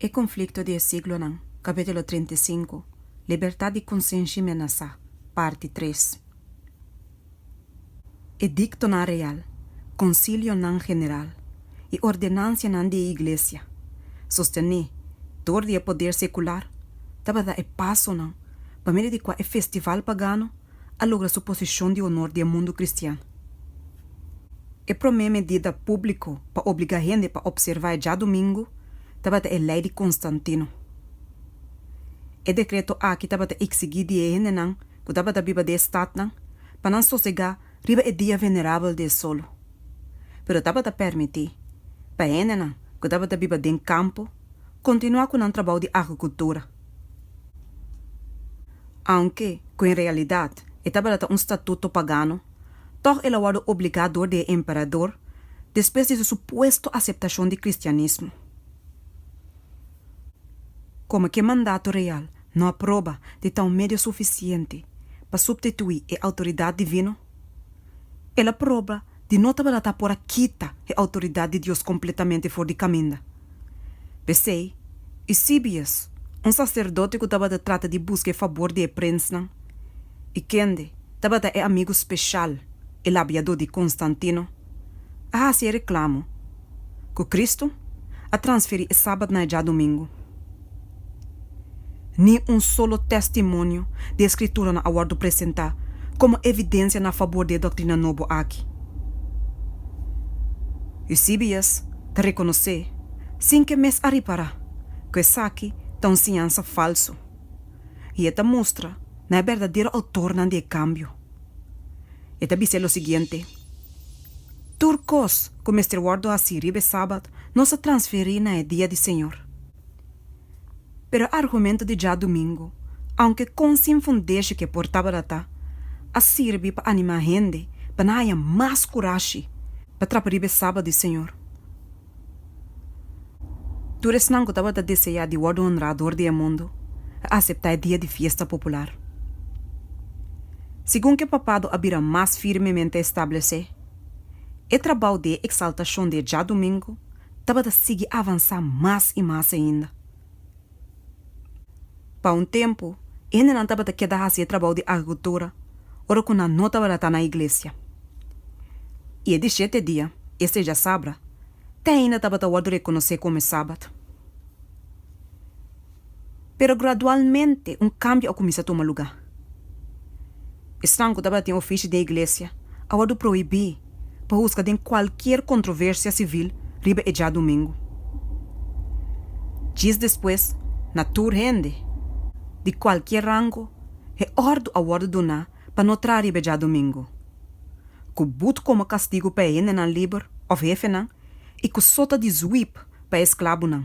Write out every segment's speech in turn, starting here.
E konflikto di e siglonan, Capítulo trinta i sinku, Libertat di konsenshi menasá, Parti tres. Ediktonan real, konsilionan general i ordenansianan di e iglesia, sostené dor di e poder sekular, tabata e pasonan pa medio di kua e festival pagano a logra su posishon di honor di e mundu kristian. E promé medida públiko pa obligá hende pa opservá e djadumingu tabata e Lei di Konstantinu. E dekreto aki tabata iksigí di e hendenan ku tabata biba di e statnan pa nan sosegá riba e dia venerabel di e solu, pero tabata pèrmití pa e hendenan ku tabata biba den kampo kontinuá ku nan trabou di agrikultura. Aunke ku en realidat e tabata ta un statuto pagano, tòg el a wòrdu obligá dor di e emperador despues di su supuesto aseptashon di kristianismo. Komo ke mandato real no a proba di ta un medio sufisiente pa suptituí e outoridat divino, el a proba di no tabalatá por a kita e outoridat di Dios kompletamente for di kaminda. P'esei, Eusebius, un saserdote ku tabata trata di buska e fabor di e prensnan, i kende tabata e amigu speshal, e labiadó di Konstantino, a hasi e reklamo, ku Kristu a transferí e Sabat na e djadumingu. Ni un solo tèstimonio di e Skrituran a wòrdu presentá komo evidensia na fabor di e doktrina nobo aki. Eusebius ta rekonosé, sin ke mes a ripará, ku esaki ta un siñansa falsu, i e ta mustra na e berdadero outornan di e kambio. E ta bis'é lo siguiente. Tur kos ku mester wòrdu hasí riba e Sabat nos a transferí na e dia di Señor. Pero e argumentu di djadumingu, aunke kon sin fundesho ke por tabalatá, a sirbi pa animá hende pa nan haya mas kurashi pa trapa riba e Sabat di Señor. Tur esnan ku tabata deseá di wòrdu honrá dor di e mundu, a aseptá e dia di fiesta popular. Segun ku e papado a bira mas firmemente establesé, e trabou di e eksaltashon di e djadumingu tabata sigui avansá mas i mas ainda. Pa un tempu, e hendenan tabata keda hasi e trabou di agrikultura ora ku nan no tabata ta na iglesia. I e di shete dia, e seja sabra, te ainda tabata wòrdu rekonosé komo e Sabat. Pero gradualmente un kambio a kuminsá tuma lugá. Esnan ku tabatin ofishi den iglesia a wòrdu prohibí pa huska den kualkier kontroversia sivil riba e djadumingu. Djis despues, na tur hende, di kualkier rango, e òrdu a wòrdu duná pa no traha riba e djadumingu, ku but komo kastigu pa e hendenan liber òf hefenan i ku sota di zwip pa e sklabunan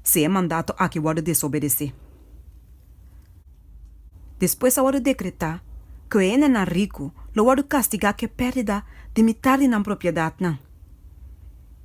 si e mandato aki wòrdu desobedesé. Despues a wòrdu dekretá ku e hendenan riku lo wòrdu kastigá ku e pèrdida di mitar di nan propiedatnan.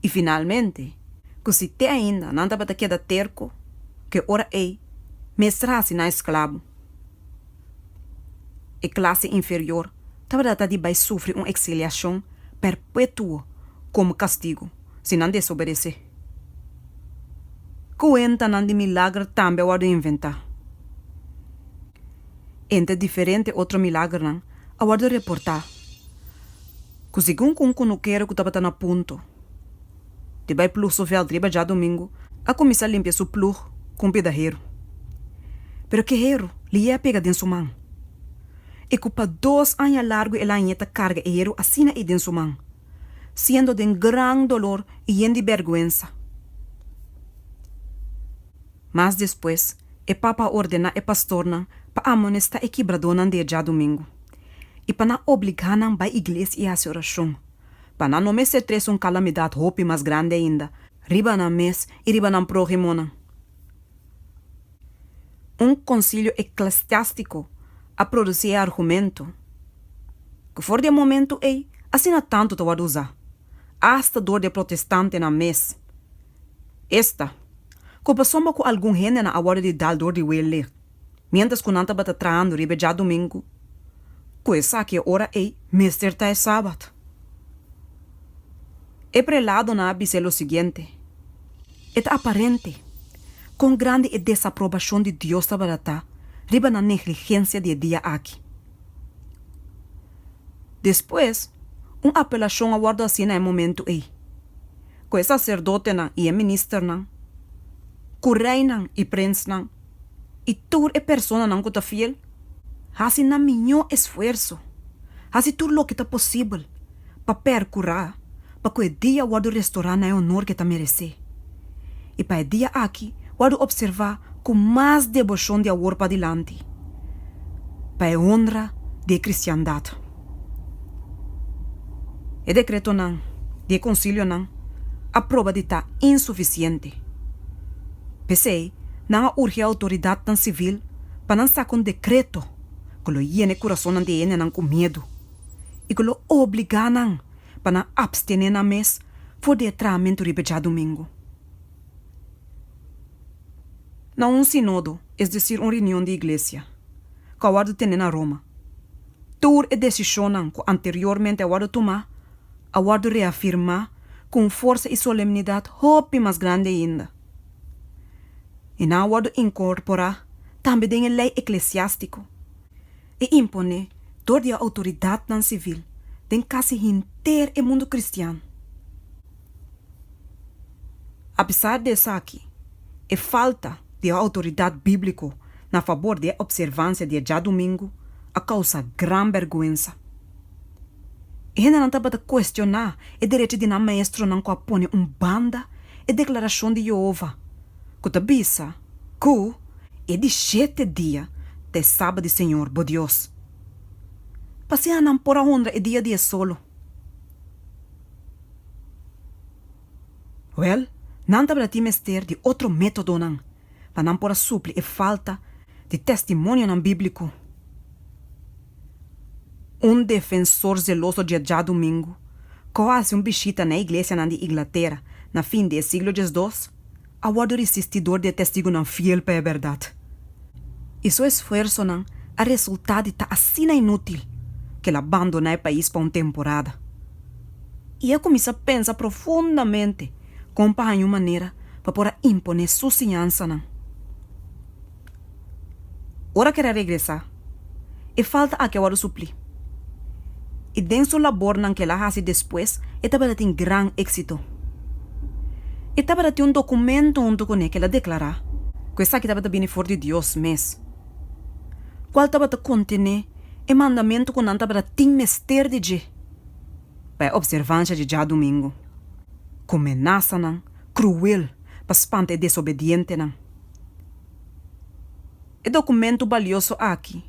I finalmente, ku si te ainda nan tabata keda terko ku e ora ei mester hasi nan esklabo, e klase inferior tabata di bai sufri un eksiliashon perpetuo komo kastigu. si nan desobedesé. Kuentanan di milager tambe a wòrdu inventá. Entre diferente otro milagernan a wòrdu reportá ku segun ku un kunukero ku tabata na punto di bai plug su vèlt riba djadumingu a kuminsá limpia su plug ku un pida heru. Pero ke heru lié a pega den su man i ku pa dos aña largu el a aña ta karga e heru asina ei den su man. siendo den gran dolor i yen di bèrgwensa. Mas despues, e papa a ordená e pastornan pa amonestá e kibradónan di e dja domingu i pa nan obligá nan bai iglesia i hasi orashon, pa nan no mester tres un kalamidat hopi mas grandi ainda riba nan mes i riba nan próhimonan. Un konsilio eklesiástiko a produsí e argumentu ku for di e momentu ei asina tantu ta wòrdu usá, asta dor di e protestantenan mes. Esta, ku pasobra ku algun hendenan a wòrdu di dal dor di wele. mientras cu nan tabata trahando riba e djadomingo, cu esaki e ora ey mester ta e sabat. E preladonan a bis'é lo siguiente, E ta aparente con grandi e desaprobacion di Dios tabata ta riba nan negligencia di e dia aki. Despues, un apelacion a wordo haci na e momento ey, cu e sacerdotenan y e ministernan, cu reynan y prensnan, i tur e personanan ku ta fiel hasi nan miñó esfuerso, hasi tur loke ta posibel pa perkurá pa ku e dia wòrdu restorá na e honor ku e ta meresé. I pa e dia aki wòrdu opservá ku mas deboshon di awor padilanti pa e honra di e kristiandat. E dekretonan di e konsilionan a proba di ta insufisiente. P'esei nan a urgi e outoridatnan sivil pa nan saka un dekreto ku lo yena e kurasonnan di e hendenan ku miedu i ku lo obligá nan pa nan apstené nan mes for di e traamentu riba e djadumingu. Na un sinodo, es desir un reunion di Iglesia, ku a wòrdu tene na Roma, Tur e desishonnan ku anteriormente a wòrdu tumá a wòrdu reafirmá ku un forsa i solemnidat hopi mas grandi ainda, i nan a wòrdu inkorporá tambe den e lei eklesiástiko i imponé dor di e outoridatnan sivil den kasi henter e mundu kristian. A pesar di esaki, e falta di e outoridat bíbliko na fabor di e opservansia di e djadumingu a kousa gran bèrgwensa. E hendenan tabata kuestioná e derechi di nan maestronan ku a pone un banda e deklarashon di Yehova ku ta bisa ku e di shete dia ta e Sabat di Señor bo Dios. Pasiá nan por a honra e dia di e solo. Wèl, nan tabatatin mester di otro métodonan pa nan por a supli e falta di testimonionan bíblico. Un defensor zeloso dje djadumingu ku a hasi un bishita na e iglesianan di Inglatera na fin di e siglo diesdos, a wòrdu risisti dor di e Testigunan fiel pa e bèrdat. I su esfuersonan a resultá di ta asina inútil ku el a bandoná e pais pa un temporada. I a kuminsá pensa profundamente kon pa haña un manera pa por a imponé su siñansanan. Ora kere regresá, e falta aki a wòrdu suplí. I den su labornan ku el a hasi despues, e tabata tin gran éksito. E tabata tin un dokumentu huntu kuné ku el a deklará ku esaki tabata bini for di Dios mes, kual tabata kontené e mandamentu ku nan tabata tin mester di dje pa e opservansha dje djadumingu, ku menasanan kruel pa spanta e desobedientenan. E dokumentu balioso aki,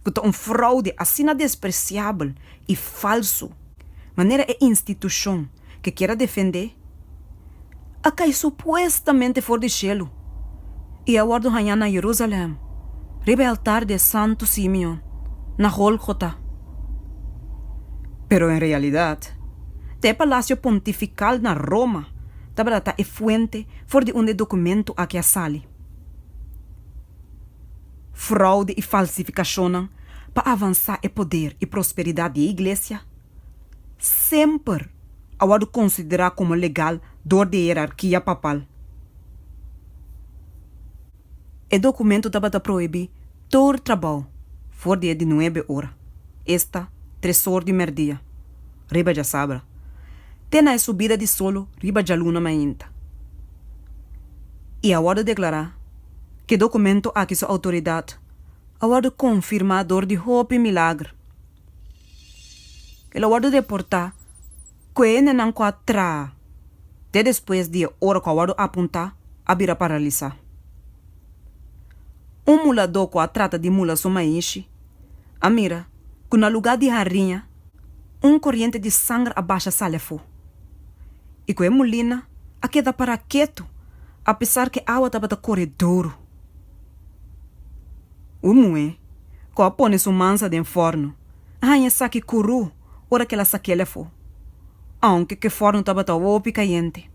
ku ta un fraude asina despresiabel i falsu manera e institushon ke kier a defendé a kai supuestamente for di shelu i a wòrdu hañá na Jerusalèm riba e altar di e Santu Simeon na Gólgota. Pero en realidat ta e Palasio Pontifikal na Roma. Tabata ta e fuente for di unda e dokumento aki a sali. Fraude i falsifikashonnan pa avansá e poder i prosperidat di e iglesia semper a wòrdu konsiderá komo legal dor di e hierarkia papal. E dokumento tabata prohibí tur trabou for di e di nuebe ora, esta tresor di merdia, riba djasabra, te na e subida di solo riba djaluna mainta. I a wòrdu deklará ku e dokumento aki su outoridat a wòrdu konfirmá dor di hopi milagr. El a wòrdu deportá. Ku e hendenan ku a traha te despues di e ora ku a wòrdu apuntá a bira paralisá. Un muladó ku a trata di mula su maishi a mira ku na lugá di hariña un koriente di sanger a basha sali afó i ku e mulina a keda pará ketu apesar ku e awa tabata kore duru. Un muhé ku a pone su mansa den fòrnu a haña esaki kurú. ora ke el a sa kele afó, aunke ke fórno tabata hopi kayente.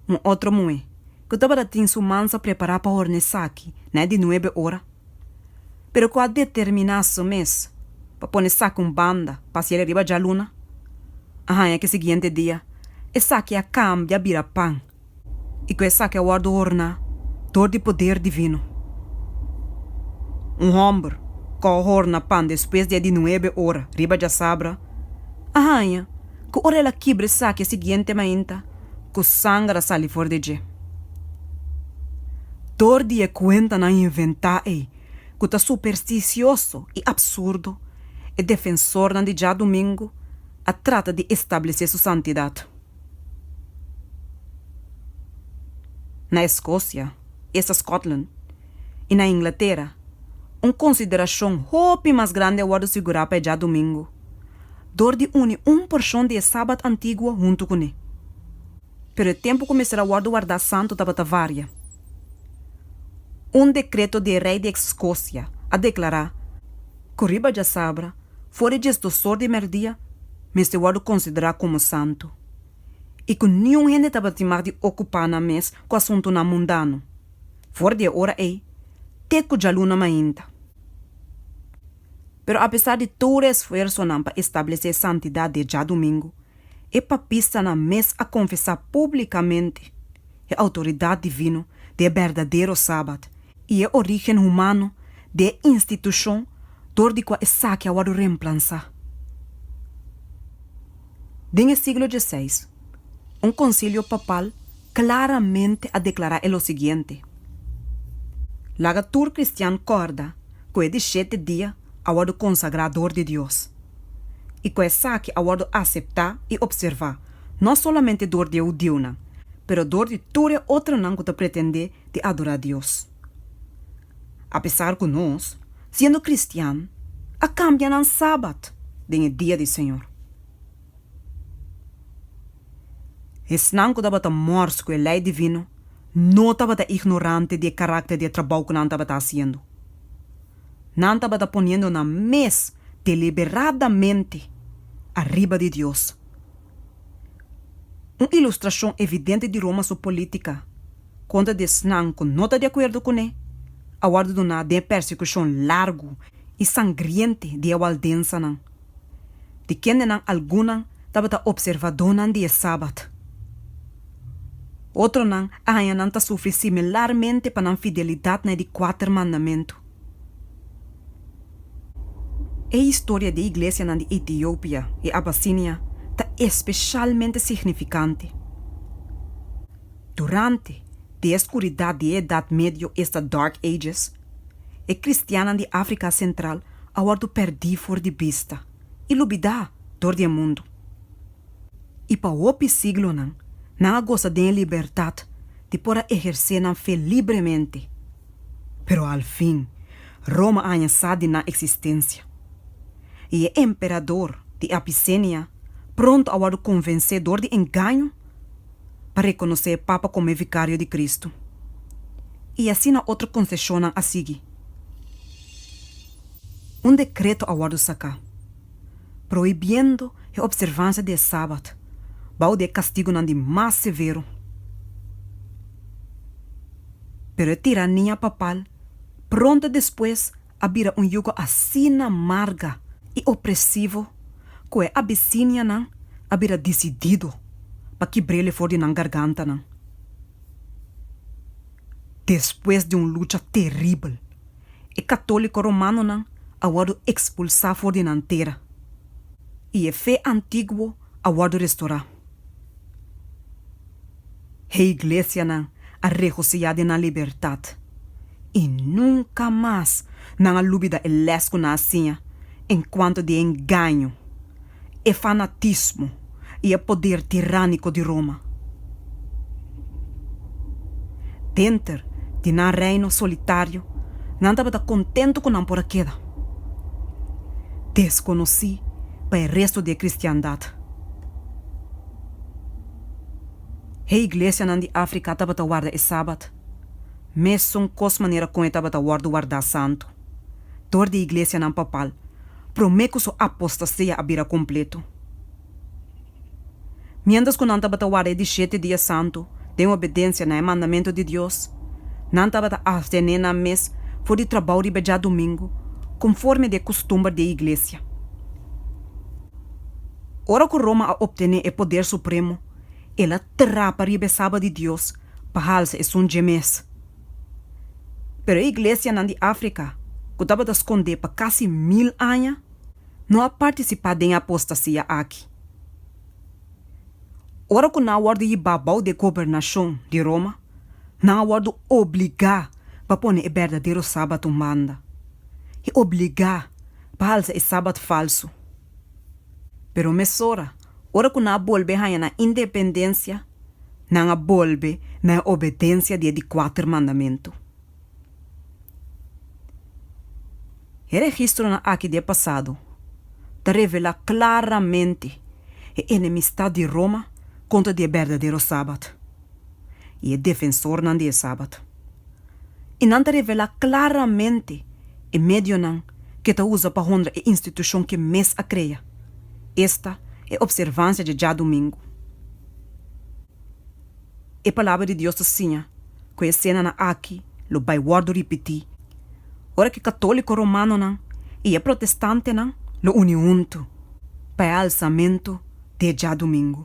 Un otro muhé ku tabata tin su mans a prepará pa horna esaki na e di nuebe ora, pero ku a determiná su mes pa pone esaki un banda pa hasiel riba djaluna, a haña ke siguiente dia esaki a kambia bira pan. i ku esaki a wòrdu orná dor di poder divino. Un hòmber ku a horna pan despues di e di nuebe ora riba djasabra a haña ku ora el a kibra esaki e siguiente mainta ku sanger a sali for di dje. Dor di e kuentanan inventá ei ku ta superstisioso i apsurdo, e defensornan di djadumingu a trata di establesé su santidat. Na Escocia, esta Scotland, y na Inglatera, un consideracion hopi mas grandi a wordo sigura pa e djadomingo, dor di uni un porcion di e Sabbat antiguo huntu cu ne. Pero e tempu cu mester a wordo warda santu tabata varia. Un decreto di e rey di Escocia a declara, ku riba djasabra for di djes dosor di merdia mester wòrdu konsiderá komo santu, i ku niun hende tabatin mag di okupá nan mes ku asuntunan mundano for di e ora ei te ku djaluna mainta. Pero apesar di tur e esfuersonan pa establesé santidat di e djadumingu, e papistanan mes a konfesá públikamente e outoridat divino di e berdadero Sabat i e orígen humano di e institushon dor di kua esaki a wòrdu remplansá. Den e siglo dieseis, un konsilio papal klaramente a deklará e lo siguiente, Laga tur kristian kòrda ku e di shete dia a wòrdu konsagrá dor di Dios, i ku esaki a wòrdu aseptá i opservá no solamente dor di e hudiunan, pero dor di tur e otronan ku ta pretendé di adorá Dios. Apesar ku nos, siendo kristian, a kambia nan Sabat den e dia di Señor. Esnan ku tabata mors ku e lei divino no tabata ignorante di e karakter di e trabou ku nan tabata hasiendo. Nan tabata poniendo nan mes deliberadamente ariba di Dios. Un ilustrashon evidente di Roma su polítika kontra di esnan ku no ta di akuerdo kuné a wòrdu duná den e persekushon largu i sangriente di e waldensanan. Di kendenan algunnan tabata opservadónan di e Sabat. Otronan a haña nan ta sufri similarmente pa nan fidelidat na e di kuater mandamentu. E historia di e iglesianan di Etiopia i Abasinia ta espeshalmente signifikante. Durante di e skuridat di e Edat Medio, esta Dark Ages, E kristiannan di Afrika Sentral a wòrdu pèrdí for di bista i lubidá dor di e mundu. I pa hopi siglonan nan a gosa den e libertat di por a ehersé nan fe libremente. Pero alfin, Roma a haña sa di nan eksistensia. I e emperador di Apisenia pronto a wòrdu konvensé dor di engaño. pa rekonosé e Papa komo e Vikario di Kristu. I asina otro konseshonnan a sigui. Un dekreto a wòrdu saká, prohibiendo e opservansia di e Sabat bou di e kastigunan di mas severo. Pero e tirania papal pronto despues a bira un yugo asina marga i opresivo ku e abisinianan a bira disidido pa kibr'el'e for di nan gargantanan. Despues di un lucha teribel, e katóliko romanonan a wòrdu ekspulsá for di nan tera i e fe antiguo a wòrdu restorá. Higlesianan a regosiyá den nan libertat, i nunka mas nan a lubida e lès ku nan a siña enkuanto di e engaño, e fanatismo i e poder tirániko di Roma. Denter di nan reino solitario, nan tabata kontentu ku nan por a keda deskonosí pa e resto di e kristiandat. Hei iglesianan di Africa tabata warda e Sabat mesun kos manera kon e tabata wòrdu wardá santu. Dor di e iglesianan papal, promé ku su apostasia a bira kompletu. Miéntras ku nan tabata warda e di shete dia santu den obedensia na e mandamentu di Dios, nan tabata aftené nan mes for di trabou riba djadumingu, konforme di e kustumber di e iglesia. Ora ku Roma a optené e poder supremo, el a trapa riba e saba di Dios pa halsa esun dje mes. Pero e iglesianan di Afrika ku tabata skondé pa kasi mil aña no a partisipá den e apostasia aki. Ora ku nan a wòrdu yibá bou di e gobernashon di Roma, Nan a wòrdu obligá pa pone e berdadero Sabat un banda i obligá pa halsa e Sabat falsu. Pero mesora, ora ku nan a bolbe haña nan independensia, nan a bolbe na e obedensia di e di kuater mandamentu. E registronan akí di e pasado ta revelá klaramente e enemistat di Roma kontra di e berdadero Sabat. i e defensornan di e Sabat. I nan ta revelá klaramente e medionan ke ta usa pa honra e institushon ke mes a krea, esta e opservansia dje djadumingu. E Palabra di Dios ta siña ku e esenanan aki lo bai wòrdu ripití ora ku e katóliko romanonan i e protestantenan lo uni huntu pa e alsamentu di e djadumingu.